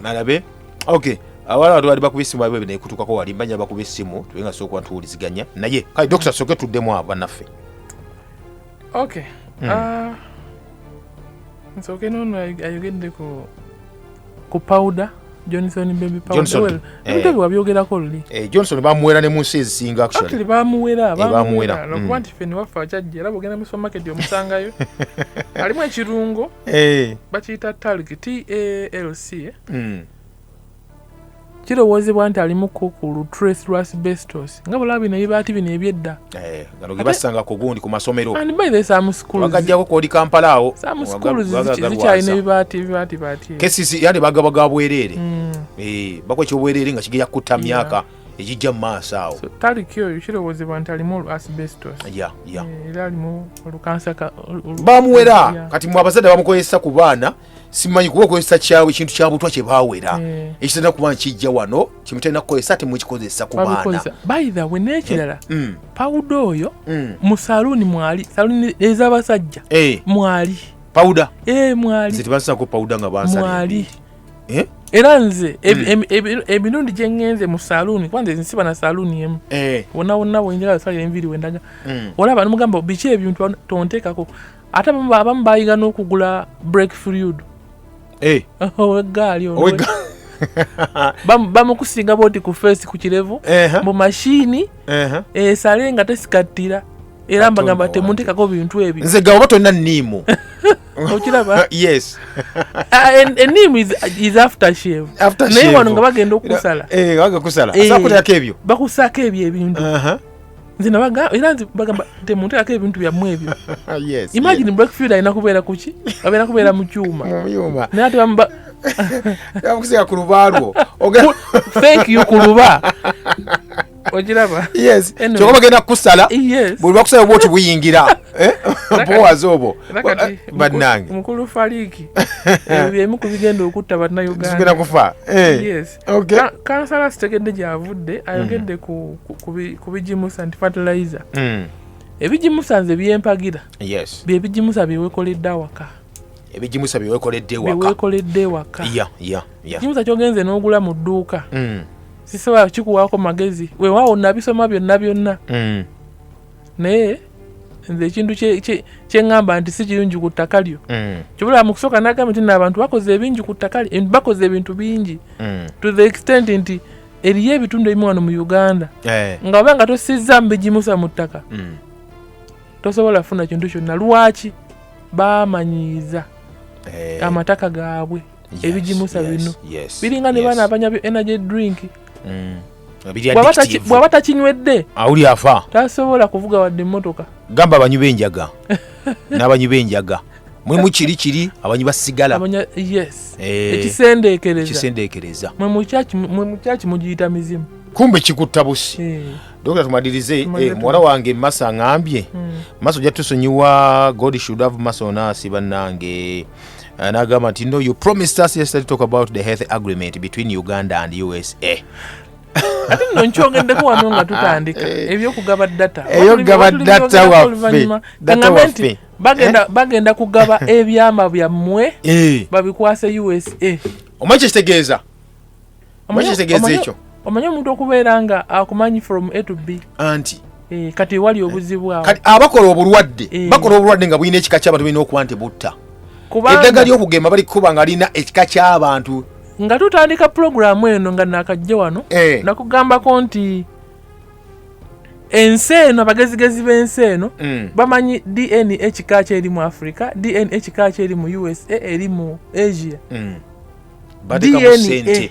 malabe ok awala watu bali bakuba essimu babe binekutukako wali mbanya bakuba essimu tube nga sokuba tuwuliziganya naye kale dokita soke tuddemu abo banaffe ok ah, nsooke noono ayogedde ku ku pawuda johnson baby pawuda well, ebintu ebyo wabyogerako luli eh, johnson bamuwera ne mu nsi ezisinga actually bamuwera eh, bamuwera mm. lwakuba nti ffe newaffe akyajja era bwogenda mu supermarket omusangayo alimu ekirungo eh. bakiyita talc talc mm. kirowoozebwa nti alimu ku lutrace lwa asbestos nga bulaba bino ebibaati bino ebyedda eh, gano ge basanga ku gundi ku masomero and by the some schools bagajjako kwoli kampala awo some schools zikyalina ebibaati ebibaati baati kesisi yandi bagaba ga bwereere mm. eh, bakwa ekyobwereere nga kigenda kutta myaka egijja mu maaso awo taliki oyo kirowoozebwa nti alimu asbestos eh, era alimu olukansa bamuwera kati mu abazadde bamukozesa ku baana simanyi kuba okozesa kyawe ekintu kyabutwa kyebawera eh. ekitenda kuba nkijja wano kyemutenda kukozesa temukikozesa ku baana baithawe nekirala eh, mm. pawuda oyo mm. mu saluuni mwali saluuni ezabasajja eh. mwali pawuda mwali tebasako pawuda nga bansali era nze mm. emirundi gyengenze mu saluuni kuba nze nsiba na saluuni emu wonna wonna wenjagala salira enviri wendaga olaba nomugamba biki ebintu tonteekako ate abamu bayiga n'okugula break freud eh. owegaali bamukusinga boti ku feesi ku kirevu mu mashini esale nga tesikattira era mbagamba temuntekako bintu ebyo nze gaoba tolina niimu okiraba yes eniimu uh, is after shave naye wano nga bagenda okukusala eh, eh, bakusaako ebyo bakusaako ebyo ebintu nze nabaga era nze bagamba temunteekako ebintu byammwe ebyo yes imagine blackfield alina kubeera kuki abeera kubeera mu kyuma mu byuma naye ate bamuba yamukusiga ku lubaalwo Oga- thank you ku luba okiraba yes Anyway. kyokka bagenda kukusala yes buli bakusala oba oti buyingira Eh? buwazi obwo Era kati bannange mukulu faliiki ebyo byemu ku bigenda okutta zigenda bannayuganda kufa Eh. yes Okay. Ka- kansala sitegedde gyavudde ayogedde Mm. ku- ku- ku bi- ku bigimusa nti fertilizer Mm. ebigimusa nze byempagira yes byebigimusa byewekoledde awaka ebigimusa byewekoledde ewaka byewekoledde ewaka ya ya ya ekigimusa kyogenze n'ogula mu dduuka Mm. sisobola kikuwaako magezi wewaawo nabisoma byonna byonna Mm. naye nze ekintu kyeŋamba nti si kirungi ku ttaka lyo mm. kibula mu kusooka nagamba nti naabantu bakoze ebingi ku ttaka lyo bakoze ebintu bingi mm. to the extent nti eriyo ebitundu ebimu wano mu uganda eh. nga oba nga tosizza mubigimusa mu ttaka mm. tosobola kufuna kintu kyonna lwaki bamanyiiza eh. amataka gaabwe ebigimusa bino biringa ne baana abanya byo energy drink mm. bwaba takinywedde awuli afa tasobola kuvuga wadde emotoka gamba abanywi benjaga n'abanywi benjaga mwemu kiri kiri abanywi basigala eh. ekisendeekereza mwe mukyaki mugiyita mizimu kumbe kikutta busi eh. dokita tumalirize eh, muwala wange masa ngambye hmm. maso jatusonyiwa god should have maso nasi bannange Eh, n'agamba nti no you promised us yesterday talk about the health agreement between uganda and usa ati no nkyongeddeko wano nga tutandika eh. ebyokugaba data eyokugaba data waffe data waffe bagenda, eh? bagenda kugaba ebyama byammwe eh. babikwase usa omwe kyekitegeeza omanyi omuntu okubeera nga akumanyi from a to b anti eh, kati wali obuzibu awo abakola obulwadde eh. bakola obulwadde nga bulina ekika kyabantu balina okuba nti butta eddaga lyokugema bali kukuba nga lina ekika kyabantu nga tutandika pulogulaamu eno nga nakajja wano eh. nakugambako nti ensi eno abagezigezi b'ensi eno mm. bamanyi dna ekika kyeri mu africa dna ekika kyeri mu usa eri mu asia mm. batekamu sente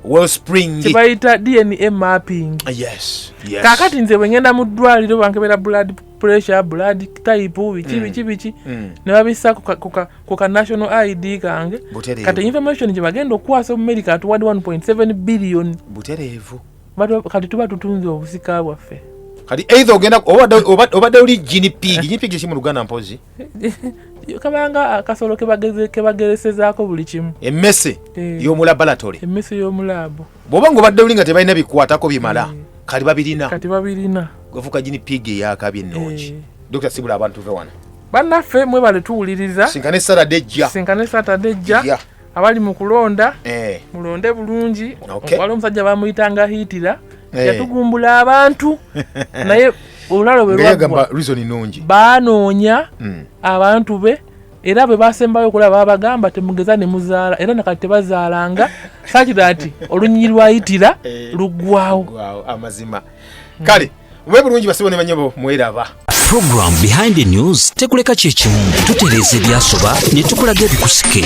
wellspring kyebayita dna mapping ah, yes, yes. kakati nze bwengenda mu ddwaliro bankebera blood pressure blood type biki mm. biki biki mm. ne babissa ku ka national id kange kati information gye bagenda okukwasa omumerica atuwadde 1.7 billion butereevu kati tuba tutunze obusika bwaffe kati either ogenda obadde oli gini pig gini pig kiki mu luganda mpozi kabanga akasolo kebageresezaako buli kimu emmese eh. yomu laboratory emmese yomu laabu bwoba nga obadde oli nga tebalina bikwatako bimala eh. kati babirina kati babirina gwefuka gini piga eyakabi ennungi eh. dr sibula abantu ve wano bannaffe mwebale tuwuliriza sinkane satade ejja sinkane satade ejja abali mu kulonda eh. mulonde bulungi okay. wali omusajja bamuyitanga hiitira eh. yatugumbula abantu naye olulalo bwelwagwa banoonya mm. abantu be era bwe basembayo okulaba babagamba temugeza ne muzaala era nakati tebazaalanga sakira nti olunyinyi lwayitira eh. luggwawo amazima hmm. kale mube bulungi basibo ne banyabo mweraba program behind the news tekuleka kyekimu tutereeza ebyasoba ne tukulaga ebikusike